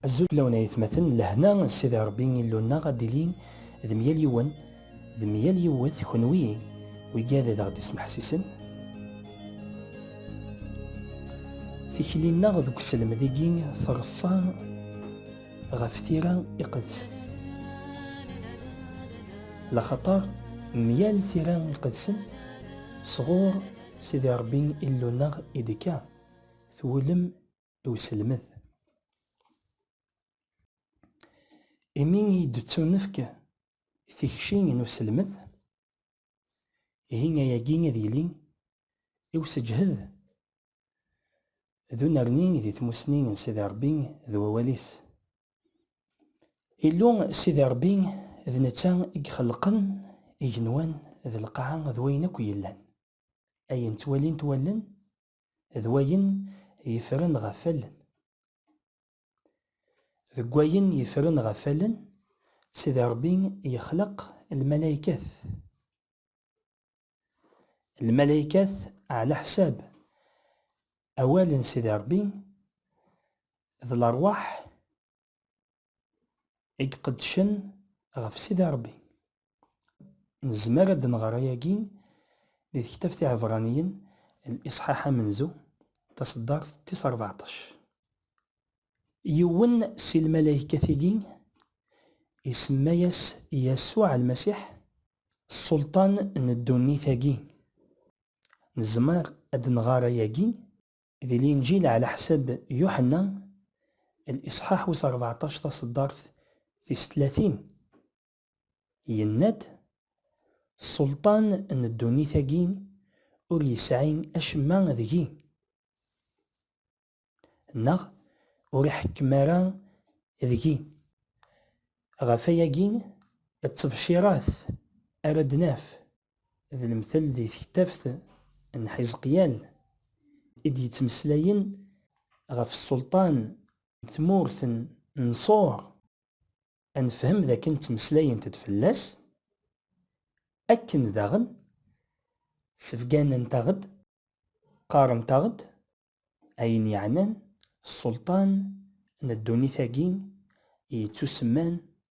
Azul fell-awen ay atmaten, lehna n Sidi Ṛebbi Illu-nneɣ ad d-tili d mya-l yiwen d mya-l yiwet, kenwi wigad ad aɣ-d-ismeḥsisen tikli-nneɣ deg uselmed-agi treṣṣa ɣef tira iqedsen, laxaṭer mya-l tira iqedsen sɣur Sidi Ṛebbi Illu-nneɣ i d-tekka, twulem i uselmed. Imi i d-ttunefk tikci n uselmed, ihi ayagi ad yili i useǧhed d unerni di tmussni n Sidi Ṛebbi d wawal-is. Illu Sidi Ṛebbi d netta i ixelqen igenwan d lqaɛa d wayen akk yellan, ayen ttwalint wallen d wayen yefren ɣef allen. Deg wayen yefren ɣef allen, Sidi Ṛebbi yexleq lmalaykat. Lmalaykat, ɛlaḥsab awal n Sidi Ṛebbi, d leṛwaḥ i iqeddcen ɣef Sidi Ṛebbi. Nezmer ad nɣer ayagi di tektabt Iɛebraniyen, liṣḥaḥ amenzu, taṣeddart tis rbeɛṭac. Yiwen si lmalaykat-agi isemma-yas Yasuɛ Lmasiḥ, Ṣṣulṭan n ddunit-agi. Nezmer ad nɣer ayagi Di Linǧil ɛlaḥsab Yuḥenna, liṣḥaḥ wis rbeɛṭac taṣeddart tis tlatin, yenna-d, Sselṭan n ddunit-agi ur yesɛi acemma deg-i, neɣ ur iḥekkem ara deg-i. Ɣef wayagi d tebcirat ara d-naf d lemtel di tektabt n Ḥizqyal i d-yettmeslayen ɣef ssulṭan n tmurt n Ṣur, ad nefhem d akken ttmeslayent-d fell-as, akken daɣen sbegganent-aɣ-d, qqarent-aɣ-d ayen yeɛnan ssulṭan n ddunit-agi yettusemman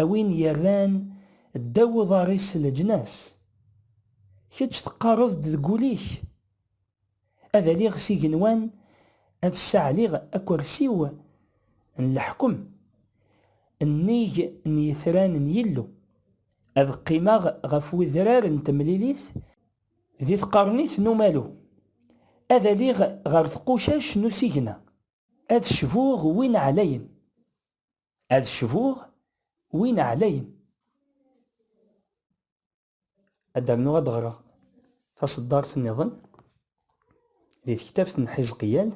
a win yerran ddaw uḍar-is leǧnas. Kečč teqqareḍ-d deg wul-ik, Ad aliɣ s igenwan, ad ssaɛliɣ akersi-w n leḥkem, nnig n yitran n Yillu, ad qqimeɣ ɣef wedrar n temlilit, di tqernit n umalu, ad aliɣ ɣer tqucac n usigna, ad cbuɣ win ɛlayen, Ad cbuɣ win ɛlayen. Ad d-rnuɣ ad ɣreɣ taṣeddart nniḍen di tektabt n Ḥizqiyal,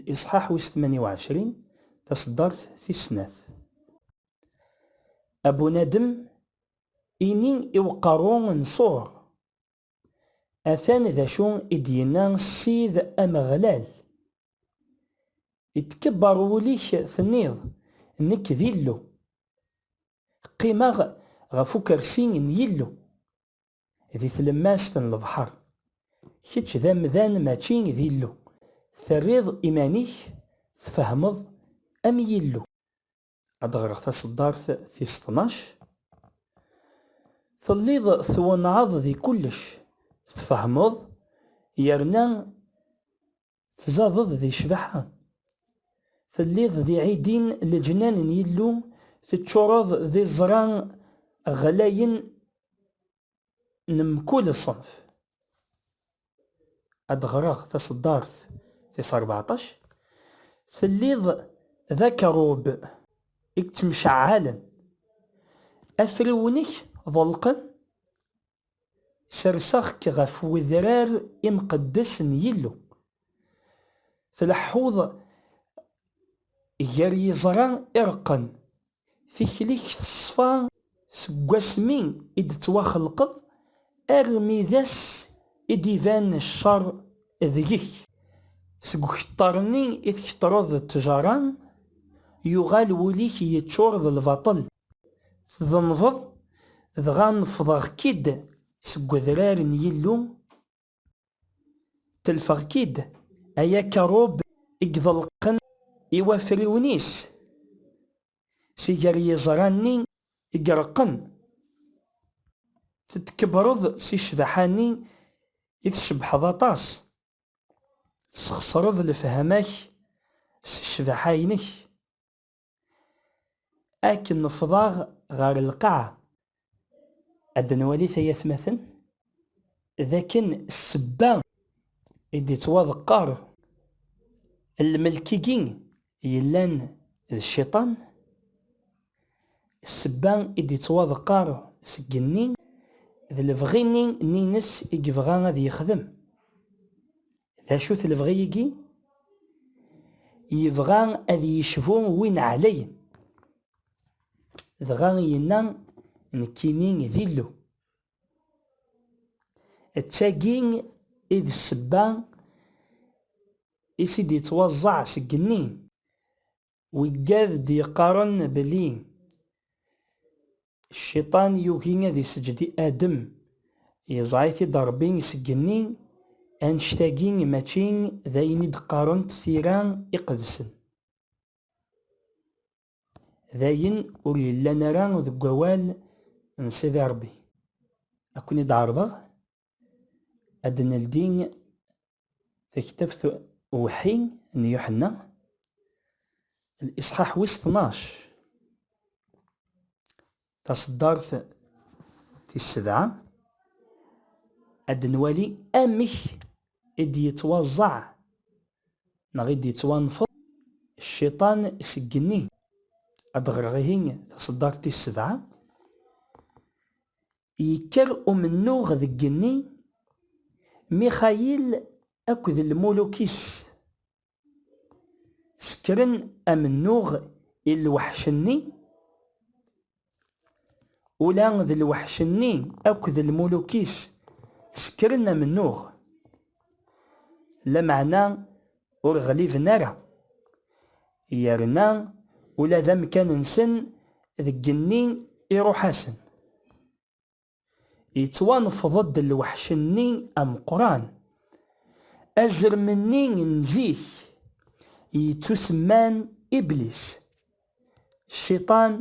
liṣḥaḥ wis tmanya u ɛecrin, taṣeddart tis snat. A bunadem, ini i uqerru n Ṣur, Atan d acu i d-yenna Ssid Ameɣlal, Itkebber wul-ik tenniḍ, Nekk d Illu, qqimeɣ ɣef ukersi n Yillu, di tlemmast n lebḥer. Kečč d amdan mačči d Illu, terriḍ iman-ik tfehmeḍ am Yillu. ad ɣreɣ taseddart tis tnac. Telliḍ twenɛeḍ di kullec, tfehmeḍ yerna tzadeḍ di ccbaḥa. Telliḍ di ɛidin leǧnan n Yillu, teččureḍ d iẓra ɣlayen n mkul ṣṣenf. Ad d-ɣreɣ taṣeddart tis rbeɛṭac, Telliḍ d akeṛṛub i yettemceɛɛalen, afriwen-ik ḍelqen, serseɣ-k ɣef wedrar imqeddes n Yillu, tleḥḥuḍ gar yiẓra ireqqen Tikli-k teṣfa seg wasmi i d-tettwaxelqeḍ armi d ass i d-iban ccer deg-k. Seg ukettar-nni i tkettreḍ d ttjara, yuɣal wul-ik yeččur d lbaṭel. Tdenbeḍ, dɣa nefḍeɣ-k-id seg wedrar n Yillu, Telfeɣ-k-id, ay akerrub i iḍelqen i wafriwen-is, si gar yiẓra-nni i ireqqen. Tettkebreḍ si ccbaḥa-nni i tcebbḥeḍ aṭas, tesxesreḍ lefhama-k s ccbaḥa-inek. Akken nefḍaɣ ɣer lqaɛa, ad nwali tayatmaten d akken ssebba i d-ittwaḍeqqer lmelk-igi yellan d cciṭan, ssebba i d-ittwaḍeqqer seg igenni d lebɣi-nni n yines i yebɣa ad yexdem. D acu-t lebɣi-igi? Yebɣa ad yecbu win ɛlayen. Dɣa yenna, Nekkini d Illu. D tagi i d ssebba is i d-ittwaẓẓeɛ seg igenni. Weggad d-yeqqaren belli Cciṭan yugi ad iseǧǧed i Adem, yeẓra-it-id Ṛebbi seg igenni, annect-agi mačči d ayen i d-qqarent tira iqedsen. D ayen ur yellan ara deg wawal n Sidi Ṛebbi. Ad ken-id-ɛerḍeɣ ad d-neldi Taktabt uweḥḥi n Yuḥenna, liṣḥaḥ wis tnac, taṣeddart tis sebɛa, ad nwali amek i d-yettwaẓẓeɛ neɣ i d-yettwanfeḍ cciṭan seg igenni. Ad ɣreɣ ihi taṣeddart tis sebɛa. Yekker umennuɣ deg igenni, Mixayil akked lmuluk-is sekkren amennuɣ i lweḥc-nni, ula d lweḥc-nni akked lmuluk-is sekkren amennuɣ, lameɛna ur ɣliben ara, yerna ula d amkan-nsen deg igenni iruḥ-asen. Yettwanefḍ-d lweḥc-nni ameqqran, azrem-nni n zik yettusemman Iblis, Cciṭan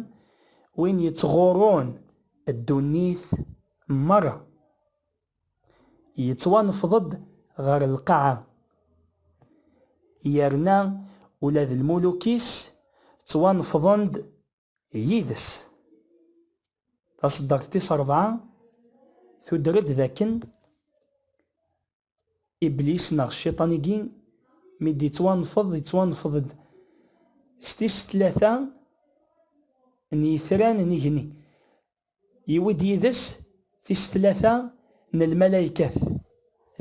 win yettɣurrun ddunit merra. yettwanefḍ-d ɣer lqaɛa, yerna ula d lmuluk-is ttwanefḍen-d yid-s. Taṣeddart tis rebɛa tuder-d d akken Iblis neɣ Cciṭan-agi mi d-ittwanefḍ, ittwanefḍ-d s tis tlata n yitran n igenni. Yewwi-d yid-s tis tlata n lmalaykat,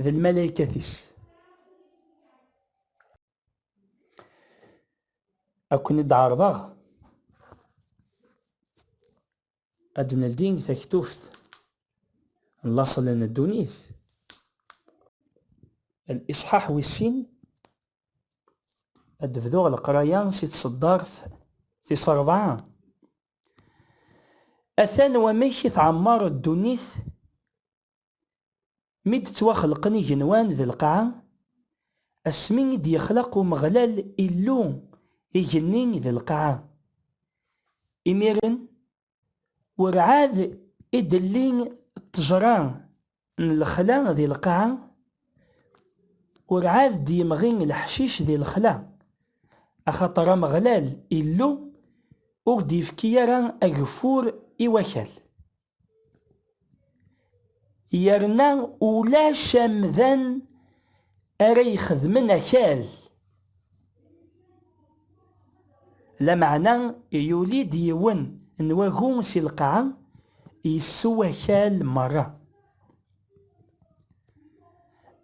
d lmalaykat-is. Ad ken-id-ɛerḍeɣ ad d-neldi taktubt n laṣel n ddunit, liṣḥaḥ wis sin, ad d-bduɣ leqraya si tṣeddart tis ṛebɛa. Atan wamek i tɛemmer ddunit mi d-ttwaxelqen igenwan d lqaɛa, asmi i d-yexlaq Umeɣlal Illu igenni d lqaɛa. Imiren, werɛad i d-telli ṭṭejra n lexla di lqaɛa, urɛad d-yemɣi leḥcic di lexla, axaṭer Ameɣlal Illu ur d-ifki ara ageffur i wakal. Yerna ulac amdan ara ixedmen akal. Lameɛna yuli-d yiwen n wagu si lqaɛa, yessew akal merra.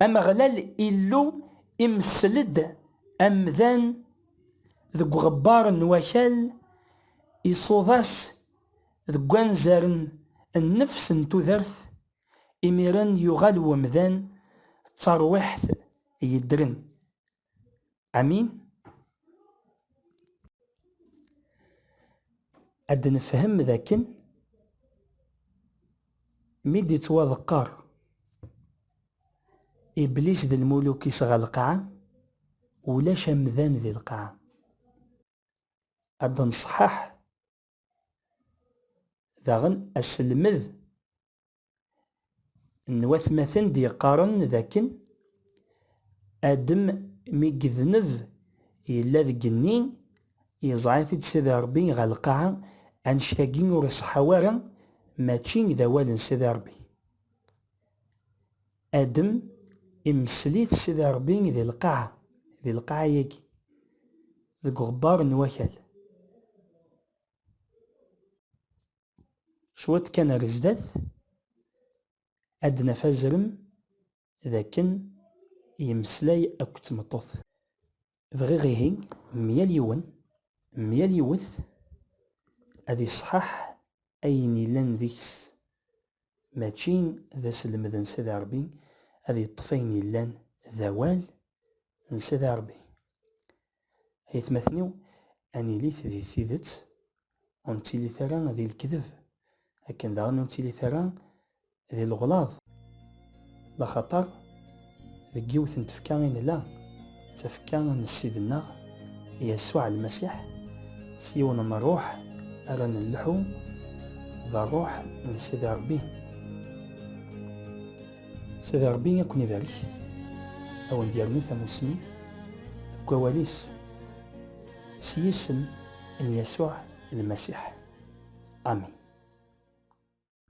Ameɣlal Illu imessel-d amdan deg uɣebbar n wakal, iṣuḍ-as deg wanzar n nnefs n tudert, imiren yuɣal umdan d tarwiḥt yeddren. Amin Ad nefhem d akken mi d-ittwaḍeqqer Iblis d lmuluk-is ɣer lqaɛa, ulac amdan di lqaɛa. Ad d-nṣeḥḥaḥ daɣen aselmed n watmaten d-yeqqaren d akken Adem mi yedneb yella deg igenni, yeẓra-t-id Sidi Ṛebbi ɣer lqaɛa, annect-agi ur iṣeḥḥa wara, mačči d awal n Sidi Ṛebbi. Adem imessel-it Sidi Ṛebbi di lqaɛa, di lqaɛa-yagi, deg uɣebbar n wakal. Cwiṭ kan ar zdat, ad d-naf azrem d akken yemmeslay akked tmeṭṭut. Bɣiɣ ihi myal yiwen, myal yiwet ad iṣṣeḥḥaḥ ayen yellan deg-s, mačči d aselmed n Sidi Ṛebbi, ad yeṭṭef ayen yellan d awal n Sidi Ṛebbi. Aytmaten-iw, ad nilit di tidet, ur nettilit ara di lekdeb, akken daɣen ur nettilit ara di leɣlaḍ. Laxaṭer deg yiwet n tfekka i nella, d tafekka n Ssid-nneɣ Yasuɛ Lmasiḥ, s yiwen n ṛṛuḥ ara nelḥu, d ṛṛuḥ n Sidi Ṛebbi. Sidi Ṛebbi ad ken-ibarek, ad wen-d-yernu tamusni deg wawal-is s yisem n Yasuɛ Lmasiḥ. Amin.